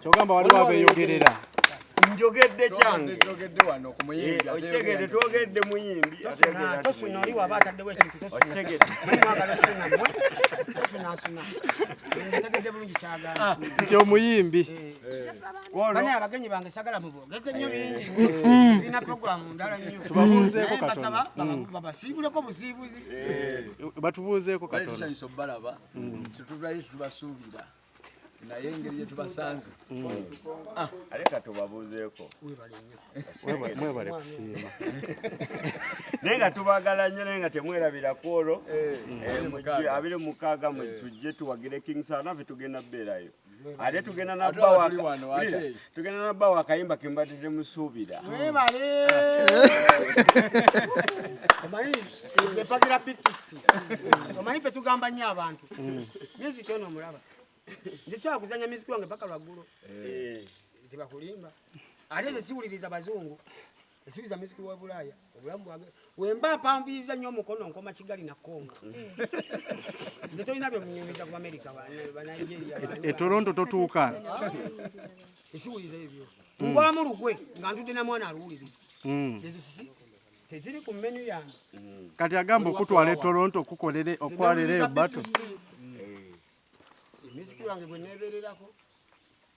kyogamba waliwo abeyogerera njogedde kyange okitegedde twogedde muyimbi nti omuyimbi abagenyi bange sagala mubogeze nyo bingi tulina programu ndala nyo tubabuuzeeko katonda babasiibuleko busiibuzi batubuuzeeko katonda tetubali tubasuubira naye engeri gyetubasanze mm. ah. aleka tubabuuzeeko mwebale kusiima naye nga tubagala nnyo naye nga temwerabira kwolwo eh, eh, abiri mukaaga mwe eh. tujje tuwagire king sana fe tugenda beerayo ate tugenda natugenda nabawa akayimba kembadde temusuubira epagira bitusi omanyi fe tugamba nnyo abantu mm. myezi kyona omulaba nzisobola kuzanya miziki wange paka lwaggulo eh. tebakulimba ate nze siwuliriza bazungu Esuubiza miziki wa Bulaaya obulamu bwange wemba mpanvuyiriza nnyo omukono nkoma Kigali na Congo nze tolina bye munyumiza ku Amerika banigeria e Toronto totuuka esiwuliza ebyo mubwamu lukwe nga ntudde na mwana aluwuliriza mm. ezo sisi teziri ku menu yange mm. kati agamba okutwala e Toronto okukolere okwalereo bato emiziki wange gwe nebererako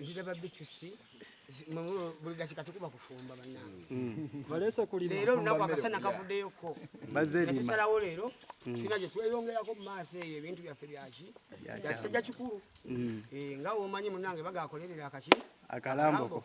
ndira babitusi buli dakika tukuba kufumba banange mm. balesa kulira leero lunaku akasana kavuddeyoko netusalawo leero mm. tulina gye tweyongerako mu maaso eyo ebintu byaffe byaki byakisajja kikulu mm. eh, nga womanyi munange bagakolerera akaki akalambo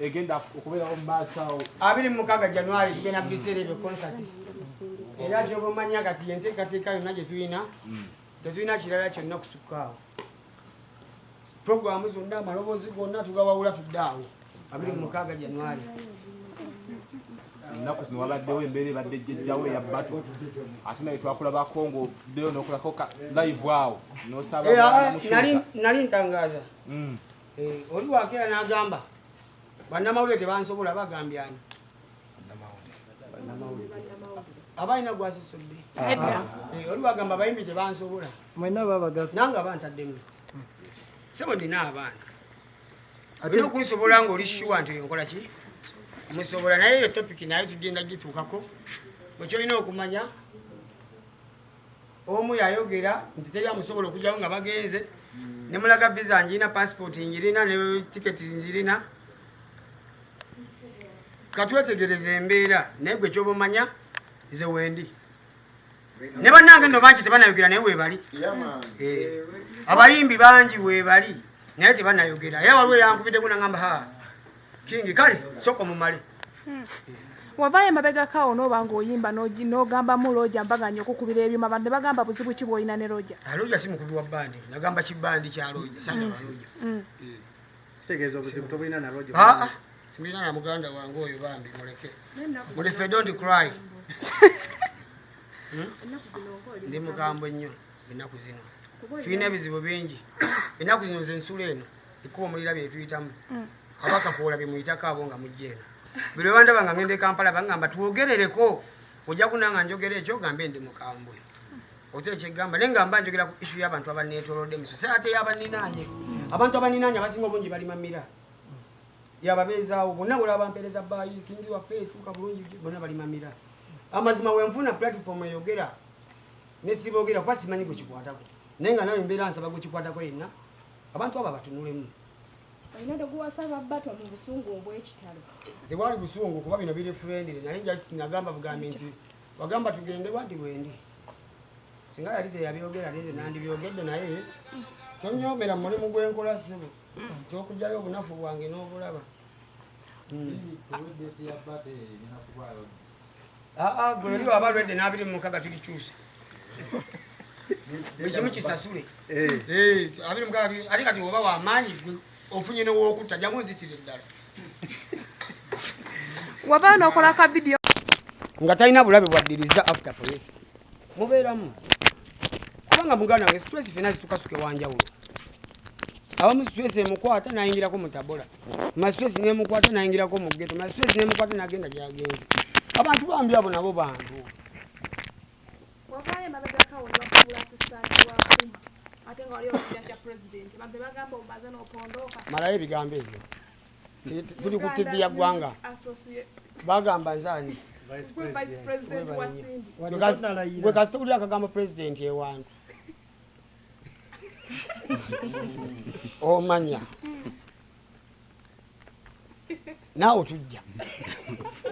egenda okubeerawo mu maaso awo abiri mu mukaaga januari tugenda mu biseera ebyo konsati era kyoba omanya kati yenteekateeka yonna gye tulina hmm. tetulina kirala kyonna kusukka awo programu zonna amaloboozi gonna tugawawula tudde awo abiri mu mukaaga januari ennaku zino wabaddewo embeera ebadde jjejjawo eya batu ate naye twakulabako ngaovuddeyo nokulako live awo nosabanali eh, ah, ah, ntangaaza hmm. Eh, oli wakera n'agamba bannamawulire tebansobola bagambyani abalina gwasosodde eh, oli wagamba abayimbi tebansobola nanga bantaddemu sebo nina abaana olina okunsobola nga oli shuwa nti oyo nkola ki musobola naye eyo topiki naye tugenda gituukako ekyolina okumanya omu yayogera nti teri amusobola okujjawo nga bagenze nemulaga visa njirina passport njirina ne tiketi njirina katwetegereza embeera naye gwe kyobamanya nze wendi ne bannange nno bangi tebanayogera naye webali eh, abayimbi bangi webali naye tebanayogera era waliwo eyankubidde gunagamba haa King kale soko mumale. Hmm. Wavaye mabega kawo no bango yimba no no gamba mu loja mbaga nyo kukubira ebyuma bande bagamba buzibu kibo ina ne loja. A ah, loja simu kubiwa bandi na gamba kibandi cha loja sanga mm. loja. Mm. Mm. Sitegezo buzibu tobo ina na loja. Ha ah, ah. Simina na muganda wangu oyo bambi muleke. Muli fe don't cry. Hmm? Ndi mukambo nyo ina kuzino. Tuina bizibu bingi. Ina kuzino zensule eno. ekkubo mulirabye netuyitamu mm. abaka kuola bemuyitako abo nga mujja eno buli webandaba nga ngenda ekampala bangamba twogerereko ojja kunanga njogera ekyo gambe ndi mukambwe ote ekyegamba naye ngamba njogera ku isu y'abantu abaneetolodde miso se ate yabaninaanye abantu abaninaanye abasinga obungi bali mamira yababeezaawo bonna buli abampeereza baayi kingi waffe etuuka bulungi bonna bali mamira amazima wenfuna platform eyogera nesiboogera kuba simanyi gwekikwatako naye nga nawe mbeera nsaba gwekikwatako yenna Abantu abo abatunulemu. Olina doguwasa babato mu busungu obw'ekitalo. Tewali busungu kuba bino biri friendly naye just nagamba bugambi nti wagamba tugende wadi wendi. Singa yali teyabyogera nze nandibyogedde naye tonyomera mu mulimu gw'enkola ssebo ky'okuggyayo obunafu bwange n'obulaba. Hmm. gwe oli waba lwedde n'abiri mu mukaga tulikyusa buli kimu kisasule eh. Eh, abiri mu mukaga ate kati oba wamaanyi gwe ofunye newokutta jamu nzitira eddala wabaa nokola ka vidiyo nga talina bulabe bwaddiriza after police mubeeramu kubanga muganda wange situesi fena zitukasuka ewanjawulo abamu stress emukwata nayingirako mutabola mastress nemukwata nayingirako mugeto mastress nemukwata nagenda gyagenzi abantu bambi abo nabo bantu malayo ebigambo ebyo tuli ku tivi ya ggwanga bagamba nzani gwe kasita uli akagambo pulezidenti ewantu omanya naawe tujja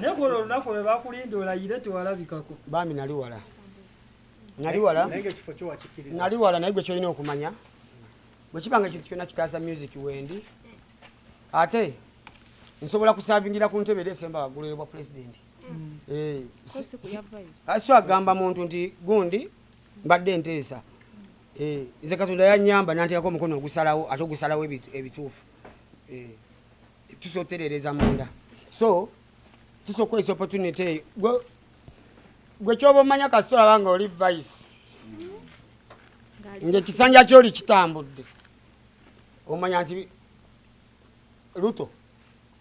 naye kuno olunaku lwe bakulinda olayire tewalabikako bambi nali wala nali wala nali wala naye gwe kyolina okumanya bwe kiba nga ekintu kyonna kitaasa music wendi ate nsobola kusavingira ku ntebe era esemba waggulu eyobwa pulezidenti mm. eh, so agamba muntu nti gundi mbadde nteesa eh, nze katonda yanyamba nantekako omukono ogusalawo ate ogusalawo ebituufu eh, tusobola otereereza munda so tusobola okukozesa opportunity eyo gwe kyoba omanya kasita olaba nga oli vice ngaekisanja kyoli kitambudde omanya nti luto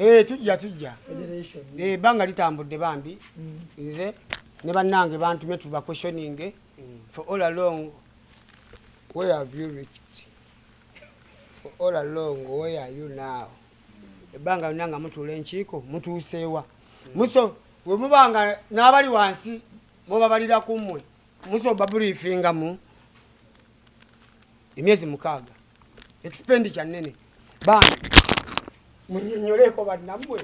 Eh, tujja tujja eh, ebbanga litambudde bambi mm. nze ne bannange bantume tuba questioning eh, mm. for all along where have you reached for all along where are you now mm. ebbanga yonna nga mutuula enkiiko mutuuseewa muso bwe muba nga n'abali wansi mubabalira ku mmwe muso babuliifingamu emyezi mukaaga expenditure nene bambi munyonyoleeko bannamwe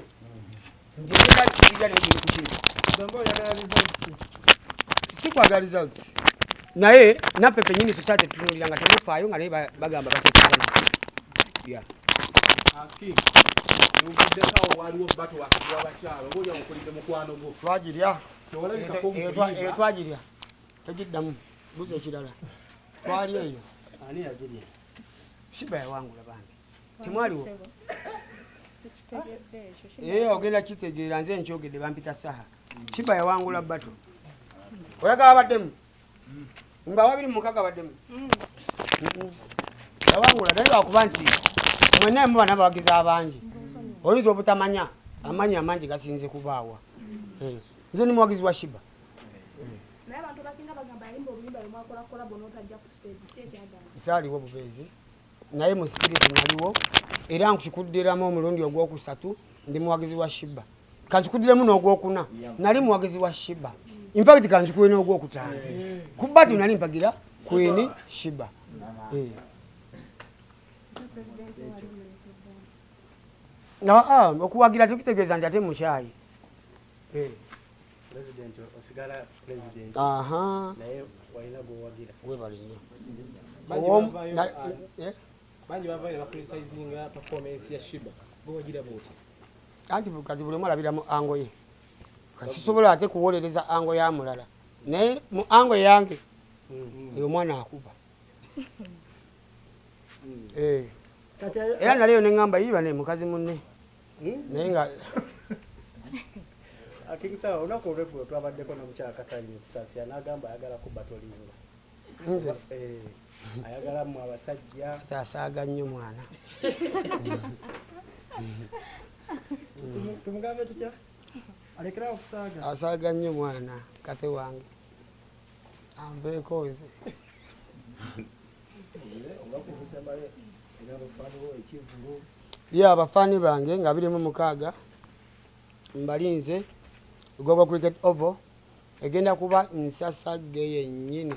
sikwagala results naye naffe fenyini society tutunulira nga temufaayo nga naye bagamba bakisana yeah. twagirya twagirya tegiddamu Mbuzi ekirala twali eyo ani yagirya? Shiba yawangula bambi, temwaliwo ee ogenda kitegeera nze nkyogedde bampita saha kiba yawangula bato oyagala baddemu nga wabiri mukaga baddemu yawangula naye lwakuba nti mwena emu bana bawagizi abangi oyinza obutamanya amanyi amangi gasinze kubaawa nze ni muwagizi wa shiba naye abantu abasinga bagamba yayimba oluyimba lwe mwakola kolabo n'otajja ku stage ki ekyagamba zaaliwo bubeezi naye mu sipiriti naliwo era nkikuddiramu omulundi ogwokusatu ndi muwagizi wa shiba kankikuddiremu n'ogwokuna nali muwagizi wa shiba infact kankikuwe n'ogwokutaano kuba ti nali mpagira kwini shiba eh. ah, okuwagira tekitegeeza nti ate mukyayi eh. President osigala president. Aha. Naye walina gwowagira. Webale nnyo. Eh? Bangi bavayo ne bacritisinga performance ya Shiba. Gwowagira bwoti. Anti kati buli omu alabira mu ango ye. Kasisobola ate kuwolereza ango ya mulala. Naye mu ango yange. Mm-hmm. Oyo mwana akuba. Mm. Eh. Era naleyo ne ngamba yiba ne mukazi munne. Hmm? naye nga akingisawa ah, olunaku olweggulo twabaddeko nomukyala katanya ekusasira nagamba ayagala kuba tolinga nze eh, ayagala mu abasajja asaaga nnyo mwana tumugambe tutya alekerawo okusaaga asaaga nnyo mwana kathe wange anveeko weze ye abafaani bange nga biri mu mukaaga mbalinze gogo cricket oval egenda kuba nsasagge yennyini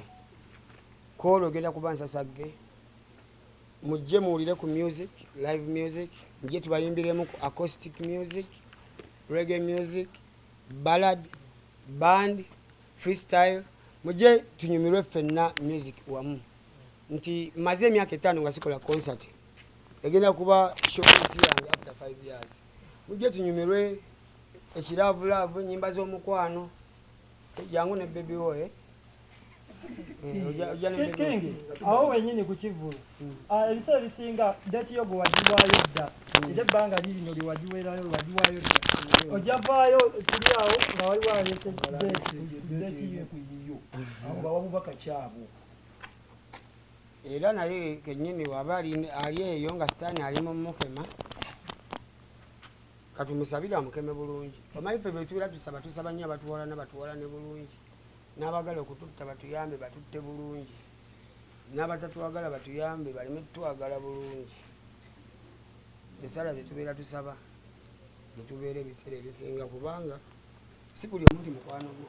koolo egenda kuba nsasagge mujje muwulire ku music live music mujje tubayimbiremu ku acoustic music reggae music ballad band freestyle muje tunyumirwe ffenna music wamu nti maze emyaka etaano nga sikola concert egenda kuba showcase yange after 5 years muje tunyumirwe ekiraavulaavu enyimba z'omukwano jangu ne bebi woye eh, eh, awo wenyini kukivulu Ah, ebiseera ebisinga deeti yo gwe wagiwaayo dda era ebbanga lirino lye wagiweerayo wagiwaayo dda ojja vaayo tuli awo nga wali waleese deeti yo kuyiyo awo bawa bubaka kyabo era naye kenyini waba ali eyo nga sitaani ali mu mukema katumusabire amukeme bulungi omanyi ffe betubeera tusaba tusaba nnyo abatuwalana batuwalane bulungi n'abagala okututta batuyambe batutte bulungi n'abatatwagala batuyambe baleme tutwagala bulungi esaala zetubeera tusaba netubeera ebiseera ebisinga kubanga si buli omu nti mukwano gwo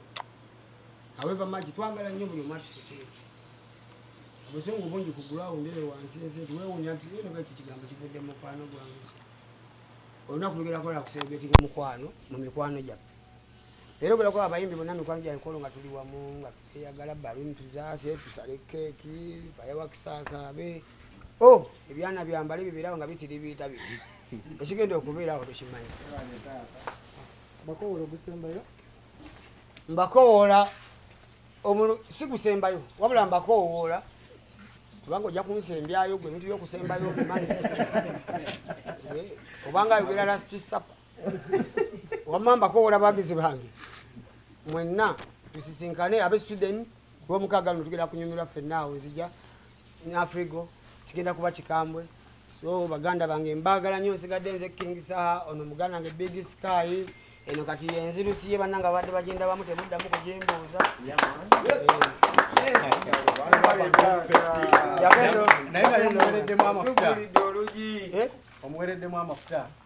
aweva magi twagala nnyo buli omu atusekere obusungu bungi ku gulawundi eyo wansi ensi nti wewunya nti yeno baki kigambo kivudde mukwano gwange olunaku lugera kola kuseregetinga mukwano mu mikwano gyaffe era ogera kuba abayimbi bonna mikwano gyankolo nga tuli wamu nga eyagala baluni tuzaase tusale keeki fayawakisakaabe o oh, ebyana byambale bibirawo nga bitiribiita bi ekigenda okubeerawo tukimanyi bakowoola ogusembayo mbakowoola si gusembayo wabula mbakowoola kubanga ojja kunsembyayo gwe ebintu byokusembayo obimanyi obanga ayogera lastisapa wamma mbakowola bagizi bange mwenna tusisinkane abe sweden lwomukaaga luno tugenda kunyumirwa ffenna awo nzija afrigo kigenda kuba kikambwe so baganda bange mbagala nyo nsigadde nze king saha ono muganda nge big sky eno kati yenzirusi ye bananga babadde bagenda bamu temuddamu kujimbuuza omuwereddemu amafuta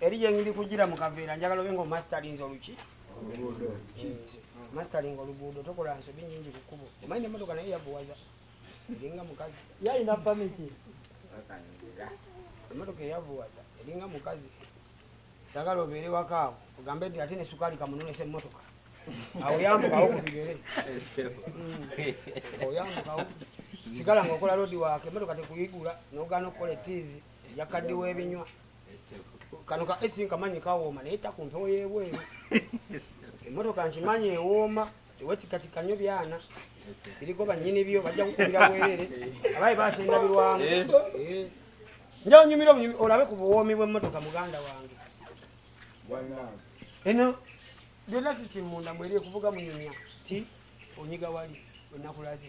eri gyengiri kugira mu kaveera njagala obe nga omasterinze oluki mastering oluguudo tokola nsobi nyingi ku kkubo omanyi nemotoka naye yavuwaza eringa mukazi yalina pamiti emotoka eyavuwaza eringa mukazi sagala obeere wakaawo ogambe nti ate nesukaali kamunonesa emotoka awo yambukawo ku bigere hmm. oyambukawo sigala nga okola lodi waake emotoka tekuyigula nogaana okukola etiizi yakaddiwa ebinywa kano ka esi nkamanyi kawooma naye takumpewo yebweru emotoka nkimanyi ewooma tewetikatika nyo byana biriko banyini byo bajja kukubira bwerere abaye basendabirwamu eh. eh. njawo nyumira obunyumi olabe ku buwoomi bw'emmotoka muganda wange eno byonna system munda mweri ekuvuga munyumya ti onyiga wali wenakulaze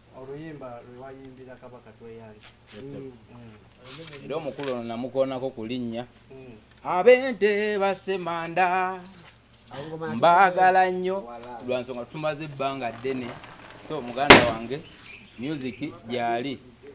oluyimba lwewayimbira kabaka tweyange mm. mm. era omukulu ono namukoonako ku linnya mm. abente basemanda mbaagala nnyo lwa nsonga tumaze ebbanga ddene so muganda wange myuziki gyali